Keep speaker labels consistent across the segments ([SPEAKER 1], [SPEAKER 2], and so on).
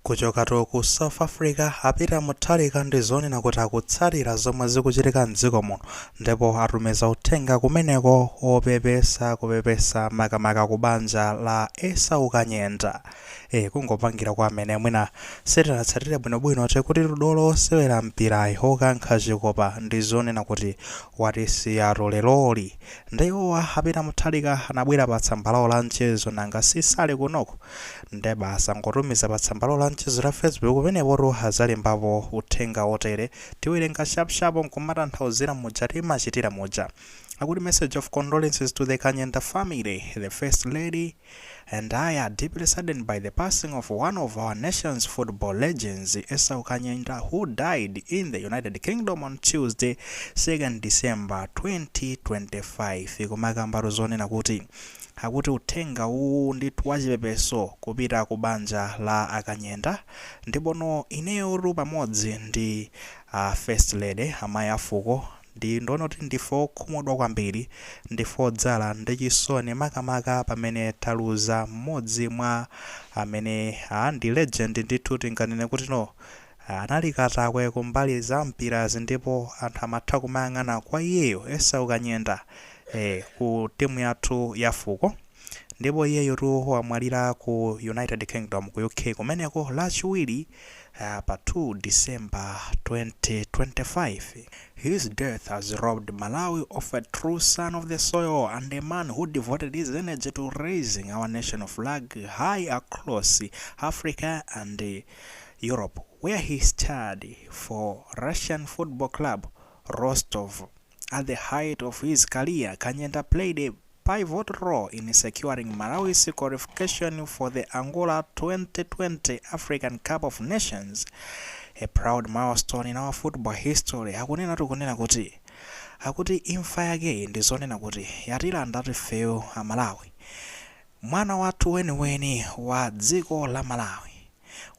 [SPEAKER 1] Kuchokatu ku South Africa, a Peter Mutharika ndi zonena kuti akutsatira zomwe zikuchitika m'dziko muno ndipo atumiza uthenga kumeneko wopepesa kupepesa makamaka ku banja la Esau Kanyenda. E, kungopangira kwa amene mwina sitinatsatire bwinobwino tikuti dolo wosewera mpirayi wokankha chikopa ndi zonena kuti watisiyatu leroli. Nde iwowa a Peter Mutharika anabwera pa tsamba lawo la mchezo nanga si sali kunoko. nde basi angotumiza pa tsambalo la mchezo la facebook penepotu adzalembapo uthenga wotere tiwerenga shap shap nkumatanthauzira muja timachitira muja akuti message of condolences to the kanyenda family the first lady and i are deeply saddened by the passing of one of our nation's football legends esau kanyenda who died in the united kingdom on tuesday 2nd december 2025 kumakambatu zonena kuti akuti uthenga uwu ndithu wachipepeso kupita ku banja la a Kanyenda ndipono ineyotu pamodzi ndi a First Lady, amayi a fuko, ndi zonena kuti ndife okhumudwa kwambiri, ndife odzala ndi chisoni makamaka pamene taluza m'modzi mwa amene aah ndi legend ndithu tinganene kuti no Anali katakwe ku mbali za mpirazi ndipo anthu amatha kumayang'ana kwa iyeyo, Esau Kanyenda, eh, ku timu yathu ya fuko. Ndipo iyeyotu wamwalira ku United Kingdom ku UK kumeneko lachiwiri ah, pa 2 December 2025. His death has robbed Malawi of a true son of the soil and a man who devoted his energy to raising our national flag high across Africa and Europe where he starred for Russian Football Club Rostov At the height of his career, Kanyenda played a pivot role in securing Malawi's qualification for the Angola 2010 African Cup of Nations, a proud milestone in our football history. Akunena zonena kuti akuti imfa yakeyi ndi zonena kuti yatilandatu ifeyo Amalawi. Mwana wathu weniweni wa dziko la Malawi.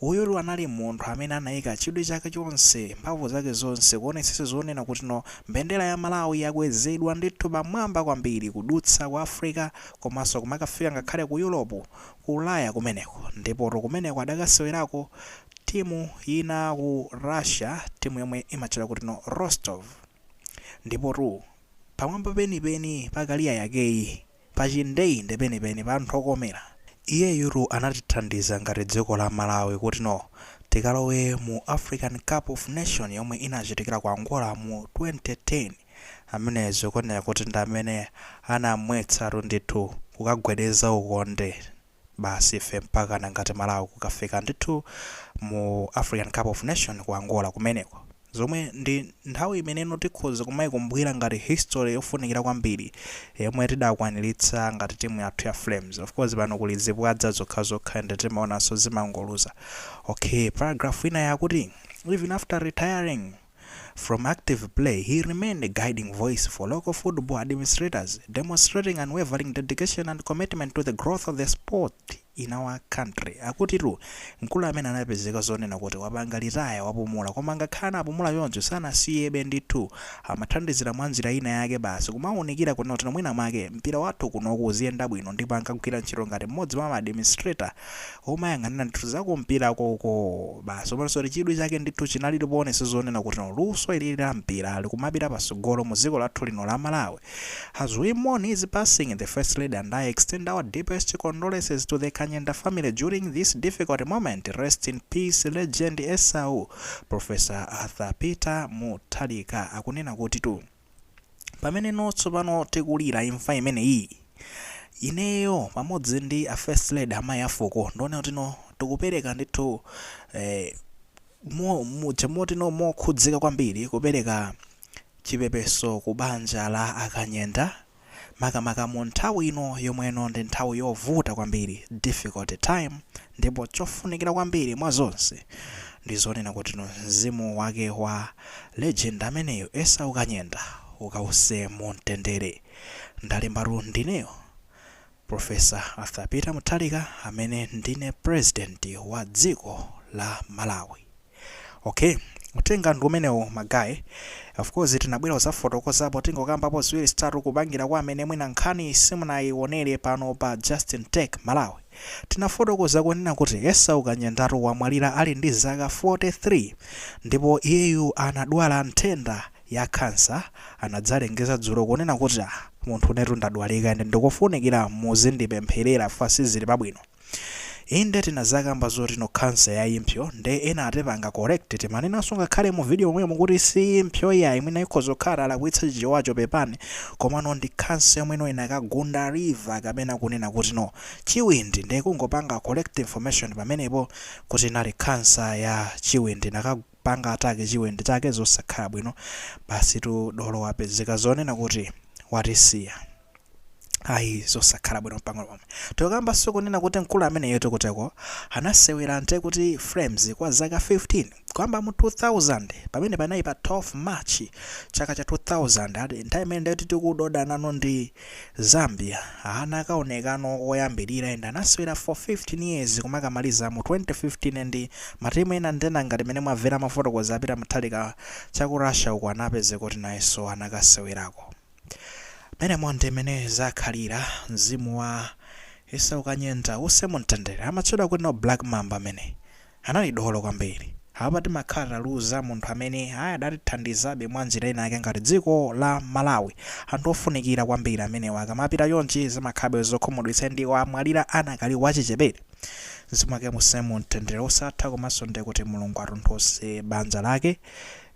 [SPEAKER 1] Uyutu anali munthu amene anaika chidwi chake chonse, mphamvu zake zonse kuonetsetsa zonena kuti no mbendera ya Malawi yakwezedwa ndithu pamwamba kwambiri kudutsa ku Africa komanso kumakafika ngakhale ku Europe, ku Ulaya kumeneko. Ndipotu kumeneko adakasewerako timu ina ku Russia, timu yomwe imatchedwa kuti no Rostov. Ndipotu pamwamba penipeni pa career yakeyi. Pa tchindeinde penipeni ponthu pokomera. Iyeyutu anatithandiza ngati dziko la Malawi kuti no tikalowe mu African Cup of Nation yomwe inachitikira ku Angola mu 2010. Ameneyo zikuoneka kuti ndi amene anamwetsatu ndithu kukagwedeza ukonde. Basi ife mpakana ngati Malawi kukafika ndithu mu African Cup of Nation ku Angola kumeneko. Zomwe ndi nthawi imeneno tikhoza kumaikumbukira ngati history yofunikira kwambiri yomwe tidakwaniritsa ngati timu yathu ya Flames. Of course pano kuli zibwadza zokhazokha ende timaonanso zimangoluza. Okay, paragraph inayi akuti, Even after retiring, From active play, he remained a guiding voice for local football administrators, demonstrating unwavering dedication and commitment to the growth of the sport in our country. Akutitu, mkulu amene anapezeka zonena kuti wapanga litaya wapumula, koma ngakhale anapumula choncho sanasiyebe ndithu. Amathandizira mwa njira ina yake basi kumaunikira kunena kuti mwina mwake mpira wathu kuno uziyenda bwino ndipo ankagwira ntchito ngati mmodzi mwa ma administrator omayang'anira ndithu za kumpira koko basi komanso chidwi chake ndithu chinali poonetsetsa zonena kuti no luso ili la mpira likumapita pasogolo mu dziko lathu lino la Malawi as we mourn his passing the first lady and I extend our deepest condolences to the Kanyenda family during this difficult moment rest in peace legend Esau Professor Arthur Peter Mutharika akunena kuti tu pamene no tsopano tikulira imfa imeneyi ineyo pamodzi ndi a first lady amayi afuko ndinene kuti no tikupereka ndithu eh, mo- mu- chimoti no mokhudzika kwambiri kupereka chipepeso ku banja la a Kanyenda makamaka mu nthawi ino yomwe no ndi nthawi yovuta kwambiri, difficult time, ndipo chofunikira kwambiri mwa zonse ndi zonena kuti mzimu wake wa legend ameneyu Esau Kanyenda ukawuse mu mtendere. Ndalembatu ndineyo Prof. Arthur Peter Mutharika amene ndine President wa dziko la Malawi. Okay, uthenga ndi umenewo ma guy. Of course tinabwera kudzafotokozapo tingokambapo ziwiri zitatu kupangira kwa amene mwina nkhani simunayionere pano pa Justin Tech Malawi. Tinafotokoza kunena kuti Esau Kanyendatu wamwalira ali ndi zaka 43 ndipo iyeyu anadwala nthenda ya kansa anadzalengeza dzulo kunena kuti "Ah, munthune tu ndadwalika ende ndikofunikira muzindipempherera fans sizili pabwino. Inde tinazakamba zoti no cancer ya impso nde ena anatipanga correct timanenanso ngakhale mu video momwemo kuti si impso iyayi mwina ikhoza kukhala tinalakwitsa chichewacho pepani komano ndi cancer yomwe no inakagunda liver kapena kunena kuti no chiwindi nde kungopanga correct information pamenepo kuti inali cancer ya chiwindi inakapanga attack chiwindi chake zosakhala bwino basitu dolo wapezeka zonena kuti watisiya. ayi zosakhala bwino mpang'ono pomwe tokamba sikunena kuti mkulu ameneyotu kuteroko anasewera nde ku Flames kwa zaka 15 kuyambira mu 2000 pamene panali pa 12 march chaka cha 2000 ati nthawi imene ndati tikudoda nano ndi zambia anakaonekano koyambirira ende anasewera for 15 years kumakamaliza mu 2015 ndi matimu ena nde ngati mene mwamvera mafotokozedwe a Peter Mutharika cha ku Russia uko anapezeka kuti nayenso anakasewerako Menemo ndi mmene zakhalira mzimu wa Esau Kanyenda uuse mumtendere. Amatchedwa kutino Black Mamba amene. Anali dolo kwambiri. Apapa timakhala taluza munthu amene ayi adatithandizabe mwa njira ina yake ngati dziko la Malawi. Anthu ofunikira kwambiri amenewa akamapita chonchi zimakhalabe zokhumudwitsa ndi wamwalira anakali wachichepere. Mzimu wake uuse mumtendere osatha komanso ndikuti Mulungu atonthoze banja lake.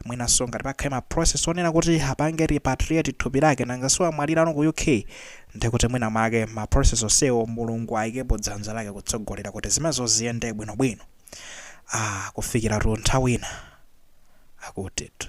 [SPEAKER 1] Mwinanso ngati pakhale ma process onena kuti apange repatriate thupi lake nanga si wamwalirano ku UK ndiye kuti mwina mwake ma process onsewo Mulungu ayikepo dzanja lake kutsogolera kuti zimenezo ziyende bwino bwino. Aaa kufikiratu nthawi ina akutitu.